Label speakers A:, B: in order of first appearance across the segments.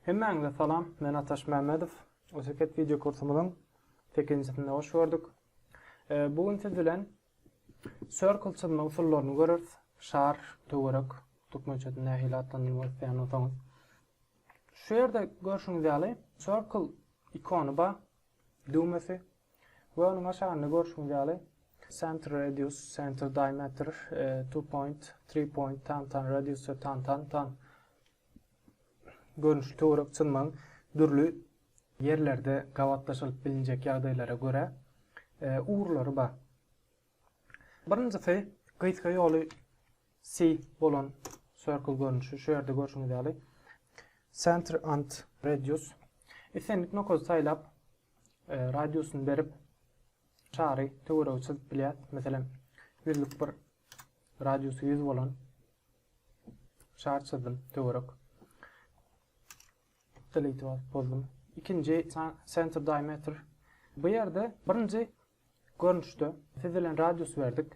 A: Hemmäňize salam, men Ataş Mämmedow. Oteket wideo kursumyzyň 8-nji hoş gördük. E, bu gün siz bilen circle çyzma usullaryny görüris. Şar, töwerek, türkmençesini nähili atlandyrmak isleýän bolsaňyz. Şu ýerde görşüňiz ýaly circle ikony bar, düwmesi. Göwniňe aşagynda görşüňiz ýaly, Center Radius, Center Diameter, Two Point, Three Point, Tantan Radius we Tantan Tan görnüşli töwerek çyzmaň dürli ýerlerde gabatlaşylyp bilinjek ýagdaýlara görä ugurlary bar. Birinjisi gysga ýoly C bolan circle görnüşi, şu ýerde görşüňiz ýaly, Center and Radius. Islendik nokady saýlap, radiusyny berip, çary töweregi çyzyp bilýär. Meselem, ýüzlük bir radiusy 100 bolan şar çyzdym, töwerek. Delete basyp bozdum. Ikinji center diameter. Bu ýerde birinji görnüşde sizilen radius berdik.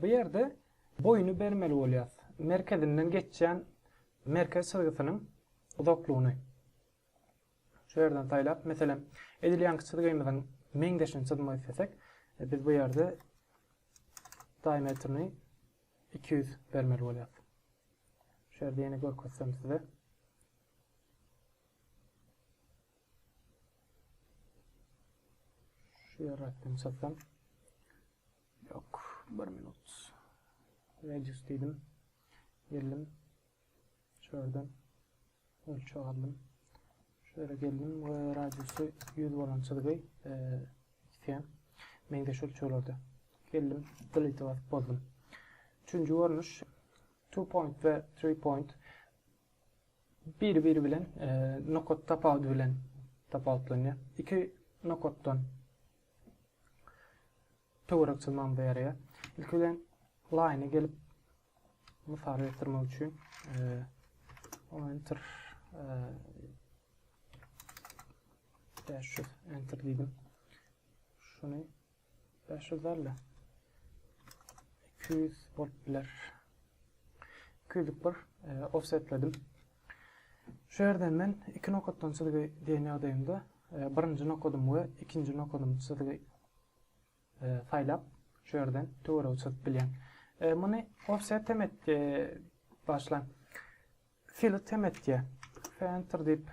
A: Bu ýerde boýuny bermeli bolýar. Merkezinden geçýän merkez çyzgysynyň uzaklygyny. Şu ýerden saýlap, meselem, edilýänki çyzgymyzyň meňzeşini çyzmak islesek, biz bu ýerde diametrini iki ýüz bermeli bolýarys. Şu ýerde ýene görkezsem size. Şu ýerden çyzsam. Ýok, bir minut. Radius diýdim. Geldim. Şu ýerden ölçeg aldym. Şu ýere geldim we radiusy 100 bolan çyzgy isleýän. Meňzeş ölçeglerde. Geldim, delete basyp bozdum. Üçünji görnüş two point we three point biri biri bilen e, nokat tapawudy bilen tapawutlanýar. Iki nokatdan Töwerek çyzmagyňyza ýaraýar. Ilki bilen laýyna gelip mysal getirmek üçin enter dash şu enter diýdim. Şuny 500 derle. 200 bolup biler. 200 bir e, offsetledim. Şu yerden men iki nokatdan çizgi diýen ýagdaýymda e, birinji nokadymy we ikinji nokadymy çizgi saýlap şu ýerden töweregi çyzyp bilýän. E, muny offset hem et e, başlan. Fillet hem etýär. Center diýip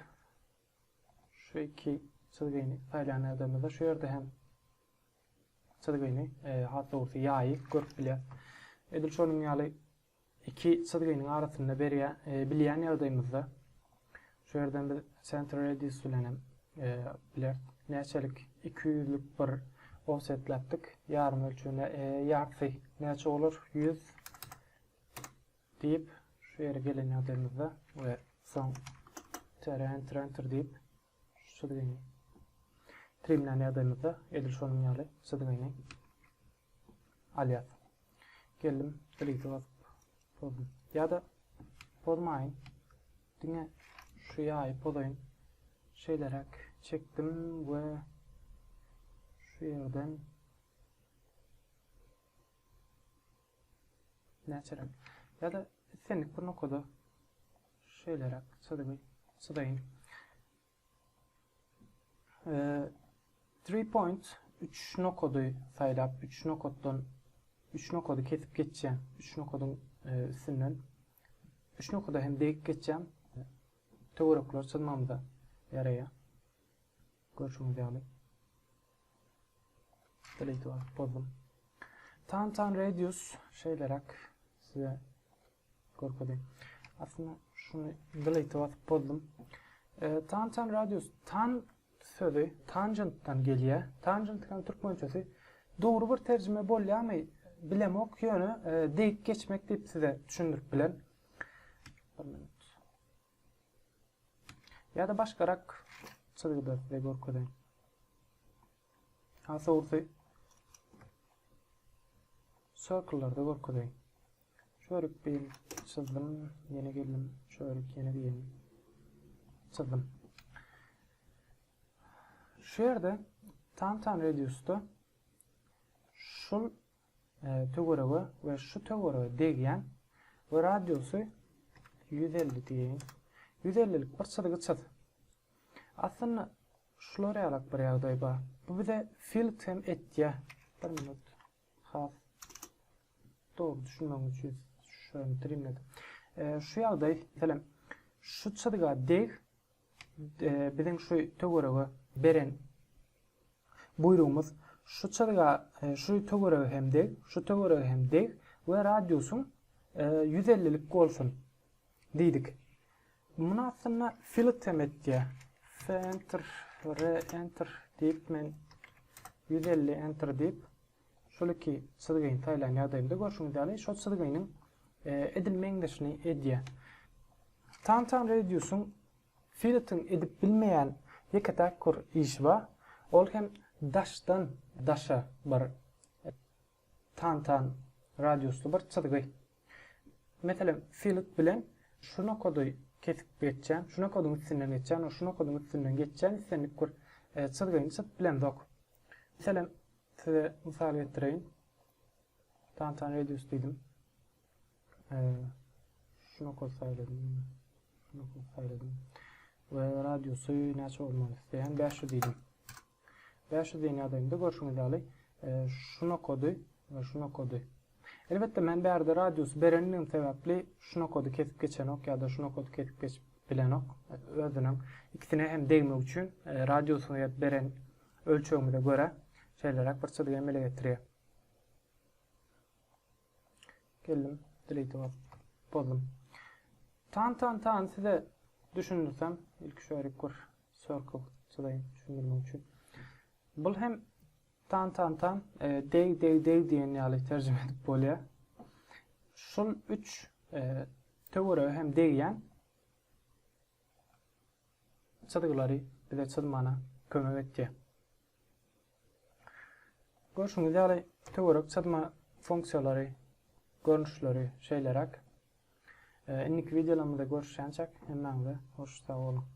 A: şu iki çizgini saýlan adamda şu ýerde hem çizgini e, hat dogrusu ýaýy görüp bilýär. Edil şonuň ýaly iki çyzgynyň arasynda berýär. E, bilýän ýagdaýymyzda şu ýerden biz center radius bilen hem e, bileris. Näçelik 200-lük bir offsetläpdik. Ýarym ölçegine e, ýarty näçe bolar? 100 diýip şu ýere gelen ýagdaýymyzda we soň tere enter enter diýip şu çyzgyny trimlän ýagdaýymyzda edil şonuň ýaly çyzgyny Alyas. Geldim, delete basyp pozdum. Ýa-da pozmaýyn. Diňe şu ýaýy pozaýyn. Şeýleräk çekdim we şu ýerden näçeräk. Ýa-da islendik bir nokada şeýleräk çyzygy çyzaýyn. Three point, üç nokady saýlap, üç nokatdan üç nokady kesip geçýän, üç nokadyň e, üstünden üç nokada hem degip geçýän töwerekler çyzmamyza ýaraýar. Görşüňiz ýaly. Delete bozdum. Tan tan radius şeýleräk size Görkezdi. Aslynda şuny delete basyp bozdum. E, tan tan radius tan sözi tangentdan gelýär. Tangent hem türkmençesi dogry bir terjime bolýarmy? Bilemok, ýöne e, degip geçmek diýip size düşündirip bilen. Ýa-da başgarak çyzgyda size görkezeýin. Asorsy circle-larda görkezeýin. Çörük diýin, çyzdym, ýene geldim, çörük ýene diýin, çyzdym. Şu ýerde Tantan radiusda şu e, töwerege we şu töwerege degýän we radiusy 150 diýin. 150-lik bir çyzgy çyz. Aslynda şular ýalak bir ýagdaý bar. Bu bize Felix hem etýär. Bir minut. Has dogry düşünmegiň üçin şuny trimledim. Şu ýagdaý, meselem, şu çyzga deg biziň şu töwerege beren buýrugymyz şu çyzga şu töwerege hem deg, şu töwerege hem deg we radiusyň 150-lik bolsun diýdik. Muny aslynda Fillet hem etýär. F-enter, R-enter diýip men ýüz elli enter diýip şol iki çyzgyny saýlan ýagdaýymda görşüňiz ýaly şol çyzgynyň edil meňzeşini edýär. Tantan Radius-yň Filletiň edip bilmeýän ýeke täk bir işi bar. Ol hem daşdan daşa bir Tantan radiusly bir çyzgy. Meselem, filik bilen şu nokady kesip geçýän, şu nokadyň üstünden geçýän we şu nokadyň üstünden geçýän islendik bir çyzgyny çyzyp bilemzok. Meselem, size mysal getireýin. Tantan radius diýdim. Şu nokady saýladym. Şu nokady saýladym. we radiusy näçe bolmaly isleýän 500 diýdim. Bäş ýüz ýen ýadygynda görşüňiz ýaly şu nokady we şu nokady. Elbetde men bärde radiusy berendigim sebäpli şu nokady kesip geçenok ýa-da şu nokady kesip geçip bilenok. Özüniň ikisine hem degmek üçin radiusyny ýet beren ölçegimize görä şeýleräk bir çyzygy emele getirýär. Geldim. Delete basyp bozdum. Tan tan tan size düşündirsem, ilki şu erik bir circle çyzaýyn düşündirmek üçin. Bul hem tan tan tan e, deg deg deg diýen ýaly terjime edip bolýar. Şul 3 e, töwerege hem degýän çyzgylary bize çyzmana kömek etýär. Görşüňiz ýaly, töwerek çyzma funksiýalary, görnüşleri şeýleräk. Indiki wideolarymyzda görüşýänçäk, hemmäňize hoş sag boluň!